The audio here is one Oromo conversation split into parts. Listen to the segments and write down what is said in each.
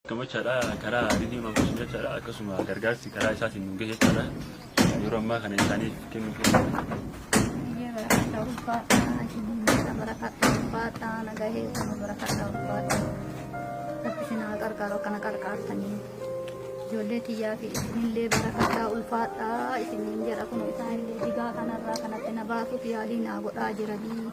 Gammachaadha karaa Ridiim Ambuus jechaadha akkasuma gargaarsi karaa isaatiin nu gahe jechaadha yeroo ammaa kana isaaniif kennu keenya. Biyyee barakadha ulfaadha isinillee barakadha ulfaadha nagahee kana barakadha ulfaadha rabbi isin haa qarqaaru akkana qarqaartanii ijoollee tiyyaa fi isinillee barakadha ulfaadha isiniin jedha kun isaanillee digaa kanarraa kanatti na baasuuf yaalii naa godhaa jiranii.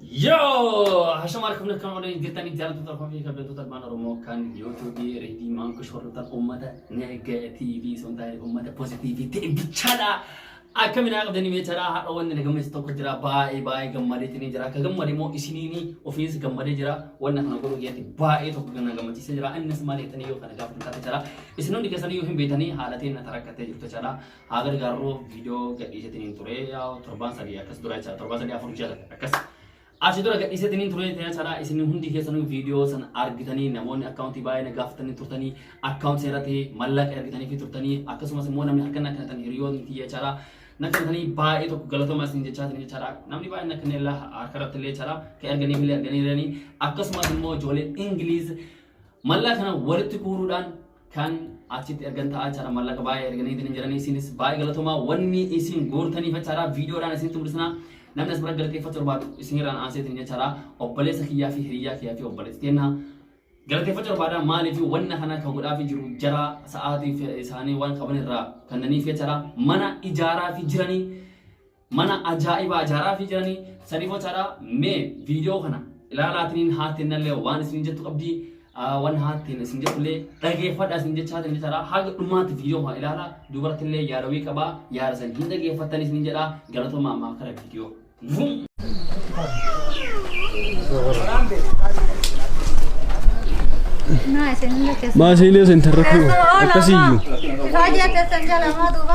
Yoo! Hashama harka fuula kan oolanii jirtanii jaallattoota koo fi kabajattoota ilmaan Oromoo kan YouTube Reedii Maankush hordoftan uummata negatiivii osoo hin taane uummata pozitiivii ta'e bichaadha. Akka minaa qabdanii meechaadha haadha wanni na gammachiisu tokko jira baay'ee baay'ee gammadeetiin jira akka gammade immoo isiniin ofiis gammadee jira wanna kana godhuu keessatti baay'ee tokko na gammachiisee jira innis maal jettanii yoo kana gaafatan taate jira isin hundi keessanii yoo hin beekne haala ta'een na tarakkattee jirtu jechaadha haa gargaarru viidiyoo gadhiisetiniin ture torbaan sadii akkas dura jechaadha torbaan sadii afur jala akkas achi dura gadhiisetiniin ture jechaadha isin hundi keessanuu viidiyoo san argitanii namoonni akkaawuntii baay'ee na gaafatanii turtanii akkaawuntii irratti mallaqa ergitanii fi turtanii akkasumas immoo namni harka na kennatan hiriyoonni kiyya jechaadha na kennatanii baay'ee tokko galatoomaa isin jechaa isin jechaadha namni baay'ee na kennee harka irratti illee jechaadha kan erganii fi illee erganii jiranii akkasumas immoo ijoollee ingiliiz mallaa kana walitti kuuruudhaan kan achitti ergan ta'aa jechaadha mallaqa baay'ee erganii ittiin jedhanii isinis baay'ee galatomaa wanni isin goortaniif jechaadha viidiyoodhaan isinitti mul'isna namni as bira galateeffachuu barbaadu isinirraan aansee ittiin jechaadha obboleessa kiyyaa fi hiriyaa kiyyaa fi obboleessa kenna galateeffachuu barbaada maaliif wanna kana kan godhaafii jiru jara sa'aatiif isaanii waan qaban irraa kannaniif jechaadha mana ijaaraa fi jiranii Mana ajaa'ibaa ijaaraafii jiranii sanii bocaadhaa mee viidiyoo kana ilaalaatiniin haattennallee waan isin jettu qabdii waan haatteen isin jettullee dhageeffadha isin jechaa isin jechaadha haga dhumaatti viidiyoo kana ilaalaa dubartillee yaada wii qabaa yaada san hin dhageeffattan isin jedha galatoomaa ammaa kara viidiyoo. Vum! Maasiilee sentarra kun akkasiyyuu. Baay'ee teessan jala maa duuba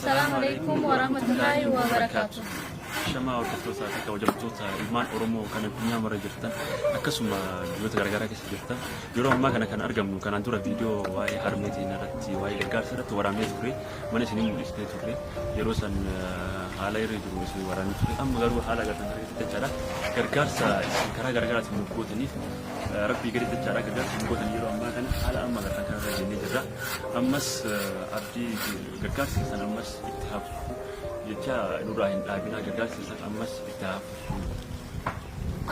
Salaamu alaikum wa rahmatullahi wa barakaatu. Shamaa hordoftoota fi kabajamtoota ilmaan Oromoo kan addunyaa mara jirtan akkasuma biyyoota garaagaraa keessa jirtan yeroo ammaa kana kan argamnu kanaan dura viidiyoo waa'ee harmeetiin irratti waa'ee gargaarsa irratti waraabnee turre mana isinii mul'isnee turre yeroo san haala irra jiru isin waraabnee turre amma garuu haala gargaarsa jechaadha gargaarsa isin karaa garaagaraatiin nu gootaniif Rabbii gadi jechaadha gargaarsa hin gootan yeroo ammaa kana haala amma lafa kana irra jennee jirra. Ammas abdii gargaarsa keessan ammas itti haa fufu jechaa nurraa hin dhaabinaa gargaarsa keessan ammas itti haa fufu.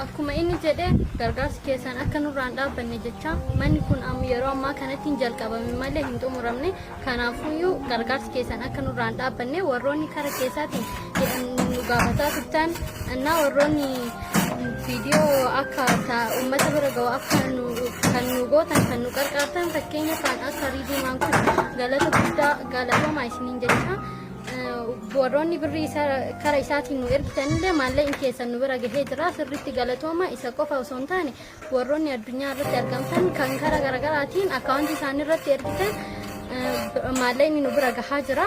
Akkuma inni jedhe gargaarsi keessan akka nurraan dhaabbanne jechaa manni kun yeroo ammaa kanatti hin jalqabame malee hin xumuramne Kanaafuyyuu gargaarsi keessan akka nurraa hin dhaabbanne warroonni kara keessaatiin jedhan nu gaafataa turtan annaa warroonni viidiyoo akka ta- uummata bira ga'u akka nu kan nu gootan kan nu gargaartan fakkeenya kan akka riidiimaan kun galata guddaa galatoomaa isiniin jecha Eh, warroonni birri isa kara isaatiin nu ergitanillee maallaqni keessan nu bira gahee jira sirriitti galatooma isa qofa osoo hin taane Warroonni addunyaa irratti argamtan kan karaa garaagaraatiin akkaawuntii isaanii irratti ergitan maallaqni nu bira gahaa jira.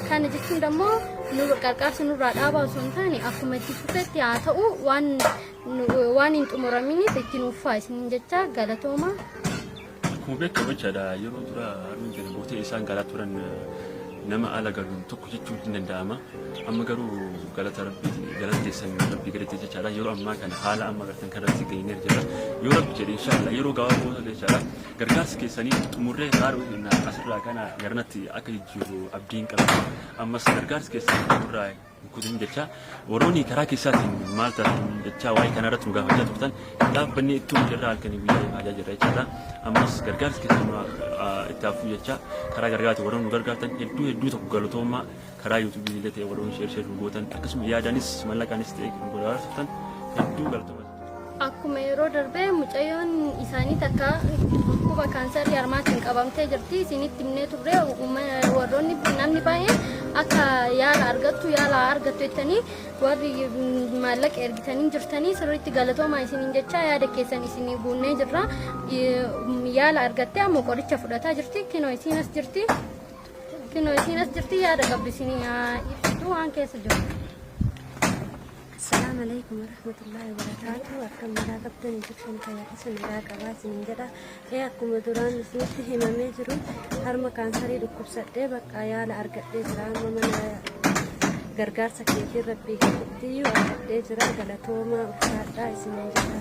Kana jechuun immoo nu gargaarsa nurraa dhaabaa osoo hin taane akkuma itti fufetti haa ta'u waan waan hin xumuraminiif itti nuuf fufaa isiniin jecha galatooma. Akkuma beekamu jechaadha yeroo dura harmeen keenya gootee isaan galaa turan nama ala galuun tokko jechuun hin danda'ama. Amma garuu galata rabbi galata keessan rabbi galate jechaadha yeroo ammaa kana haala amma gartan kanatti geenyee jira. Yoo rabbi jedhe inshaallah yeroo gabaabaa booda jechaadha gargaarsi keessanii xumurree haaruu hin asirraa kana garanatti akka jijjiiru abdiin qaba. Ammas gargaarsi keessan xumurraa Guutuun jechaa warroonni karaa keessaatiin maal taasisan jechaa waa'ee kana irratti nu gaafachaa turtan dhaabbanni itti hojii irraa halkanii guyyaa eegaa jirra jechaadha. Ammas gargaarsi keessumaa itti hafuu jechaa karaa gargaaraatiin warroonni nu gargaartan hedduu hedduu tokko galatoomaa karaa yuutuubii illee ta'e warroonni sheer sheer nu gootan akkasuma yaadanis mallaqaanis ta'e kan godhaa turtan hedduu galatoomaa. Akkuma yeroo darbe mucayyoon isaanii takka dhukkuba kaansarii harmaatiin qabamtee jirti. Isinitti himnee turre warroonni namni baay'een akka yaala argattu yaala argattu jettanii warri maallaqa ergitanii jirtanii sirriitti galatoomaa isiniin jechaa yaada keessan isinii guunnee jirra. Yaala argattee ammoo qoricha fudhataa jirti. Kinoo isiin as jirti. Kinoo isiin as jirti yaada qabdu isinii ibsitu waan keessa jiru. Assalamu alaikum warahmatullahi wabarakatuh. Akkam nagaa qabdan Egyptian fayyaa keessa nagaa qabaa isiniin jedha. Ee akkuma duraan isinitti himamee jiru harma kaansarii dhukkubsadhee bakka yaala argadhee jira amma mana gargaarsa keetiin rabbii keessatti iyyuu argadhee jira galatoomaa ulfaadhaa isiniin jedha.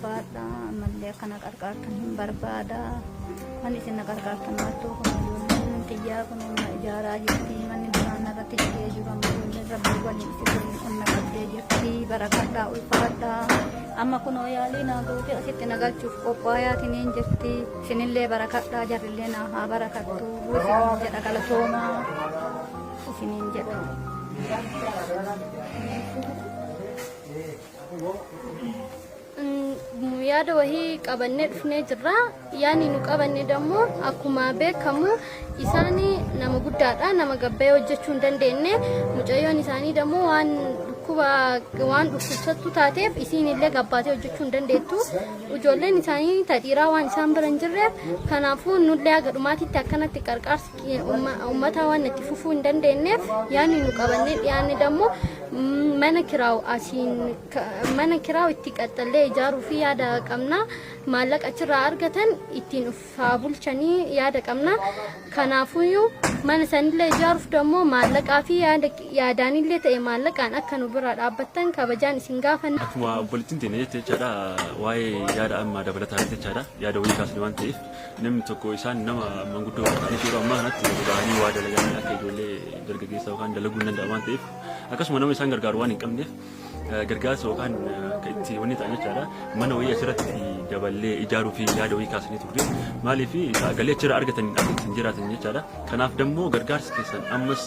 Baadha ammallee akka na qarqaartan hin barbaada. Manni isin na qarqaartan baattuu kun ijoolleen xiyyaa kun humna ijaaraa jirti. Manni duraan irratti dhigee jiru amma ijoolleen rabbii waliin itti waliin humna qabdee jirti. Barakadhaa ulfaadhaa. Amma kunoo yaalii naa goote asitti na galchuuf qophaa'aatiin hin jirti. Isinillee barakadhaa jarrillee naa haa barakattu. Isiniin jedha galatoomaa. Isiniin jedha. Mm, yaada wahii qabannee dhufnee jirra yaani nu qabanne dammoo akkuma beekamu isaani nama guddaadha nama gabbayee hojjechuu hin dandeenye mucayyoon isaanii dammoo waan dhukkuba waan dhukkubsattu taateef isiin illee gabbaatee hojjechuu hin dandeettu ijoolleen isaanii ta dhiiraa waan isaan bira hin jirreef kanaafuu nullee haga dhumaatitti akkanatti qarqaarsa Uummataa waan itti fufuu hin dandeenyeef yaadni nu qabannee dhiyaanne dammoo mana kiraa'u asiin mana kiraa'u itti qaxxallee ijaaruu fi yaada qabna maallaqa achirraa argatan ittiin uffaa bulchanii yaada qabna kanaafuyyuu mana sanillee ijaaruuf dammoo maallaqaa fi yaadaanillee ta'e maallaqaan akka nu bira dhaabbattan kabajaan isin gaafanna. Akkuma obboleettiin teenya jette jechaadha waa'ee yaada amma dabalataa jechaadha yaada wayii kaasne waan ta'eef. Namni tokko isaan nama manguddoo fakkaatanitti yeroo ammaa kanatti gadi ba'anii waa dalaganii akka ijoollee dargaggeessaa yookaan dalaguu hin danda'an waan ta'eef akkasuma nama isaan gargaaru waan hin qabneef eh, gargaarsa yookaan eh, akka itti wanni ta'an jechaadha. Mana wayii asirratti daballee ijaaruu fi yaada wayii kaasanii turre. Maaliif galii achirraa argatan akka ittiin jiraatan jechaadha. Kanaaf dammoo gargaarsi keessan ammas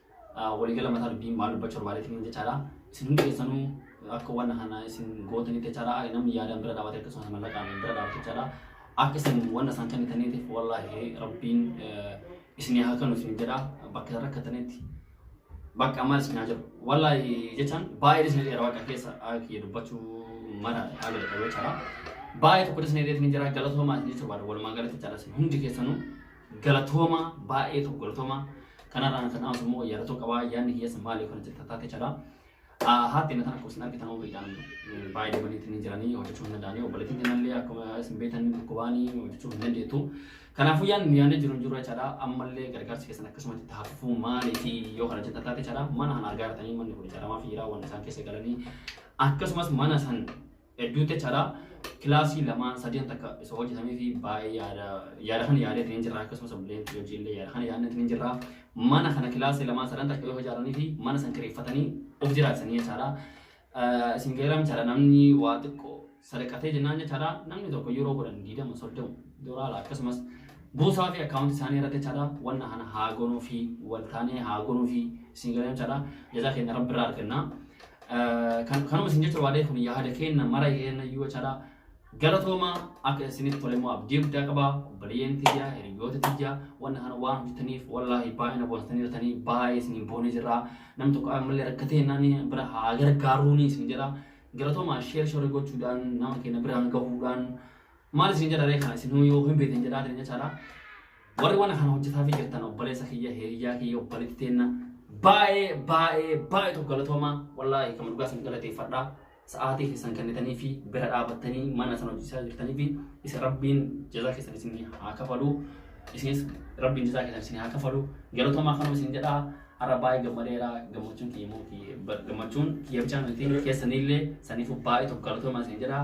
Waligala mataa dubbii maal dubbachuu barbaadetiniin jechaadha. Isin hundi keessanuu akka wanna kana isin gootanitti jechaadha. Namni yaadaan bira dhaabate akkasumas mallaqaan bira dhaabate jechaadha. Akka isin wanna isaan kennitaniitiif wallaahi rabbiin isinii haa kennu isin jedha. Bakka isin rakkatanitti bakka maal isin haa jedhu. Wallaahi jechaan baay'ee isin dheera waaqa keessa kiyya dubbachuu mara haala jedhamu jechaadha. Baay'ee tokko isin dheereetiin jira galatoomaa isin jechuu barbaada. Walumaa galatti jechaadha isin hundi keessanuu Galatoomaa baay'ee tokko galatoomaa. Kanarraan kan aansu immoo yaadatu qabaa yaadni hiyyeessa maali yookaan itti tattaate jedha. Haati inni akkuma isin argitan umriidhaan baay'ee deemaniitti ni jiranii hojjechuu hin danda'anii obboleettiin kennallee akkuma isin beektan dhukkubaanii hojjechuu hin dandeettu. Kanaafuu yaadni nu yaadni jiru hin jiru jechaadha. Ammallee gargaarsi keessan akkasumatti itti hafuufuu maalii fi yoo kana itti tattaate jechaadha. Mana kana argaa jirtanii manni kun ijaaramaa fi jiraa waan isaan keessa galanii akkasumas mana san Hedduu itti achaadha. Kilaasii lamaan sadeen takka isa hojjetamee fi baay'ee yaada yaada kana yaadee ittiin jirra akkasumas obboleen hojii illee yaada kana yaadne ittiin jirra. Mana kana kilaasii lamaan sadan takka yoo ijaaranii fi mana san kireeffatanii of jiraachisanii jechaadha. Isin gaheeraa jechaadha namni waa xiqqoo sadaqatee jennaan jechaadha namni tokko yeroo godhan diidama soddoma doolaara akkasumas buusaa fi akkaawunti isaanii irratti jechaadha wanna kana haa gonuu fi waltaanee haa gonuu fi isin gaheeraa jechaadha jazaa keenya rabbi irraa argannaa. Kan kanuma isin jecha waadee kun yaada keenna mara yeenna iyyuu jechaadha. Galatooma akka isinitti tole immoo abdii guddaa qaba. Obboleeyyan tiyya, hiriyoota tiyya, wanna kana waan hojjetaniif wallaahi baay'ee na boonsitanii jirtanii baay'ee isiniin boonee jirra. Nam tokko ammallee rakkatee naan bira haa gargaaruuni isin jedha. Galatooma sheer shorii gochuudhaan nama keenya biraan gahuudhaan Maal isin jedha ree kana isinuu yoo hin beektan jedhaa jireenya caalaa warri waan kana hojjetaa fi jirtan obboleessa kiyya hiriyyaa kiyya obboleetti teenna baay'ee baay'ee baay'ee tokko galatoomaa wallaahi kan dhugaa isin galateeffadhaa sa'aatii keessan kennitanii fi bira dhaabattanii mana sana hojjechaa jirtanii fi isin rabbiin jazaa keessan isin haa kafalu isinis rabbiin jazaa keessan isin haa kafalu galatoomaa kanuma isin jedhaa har'a baay'ee gammadeera gammachuun kiyya immoo kiyya- gammachuun kiyya bichaa miti keessanillee saniif baay'ee tokko galatoomaa isin jedhaa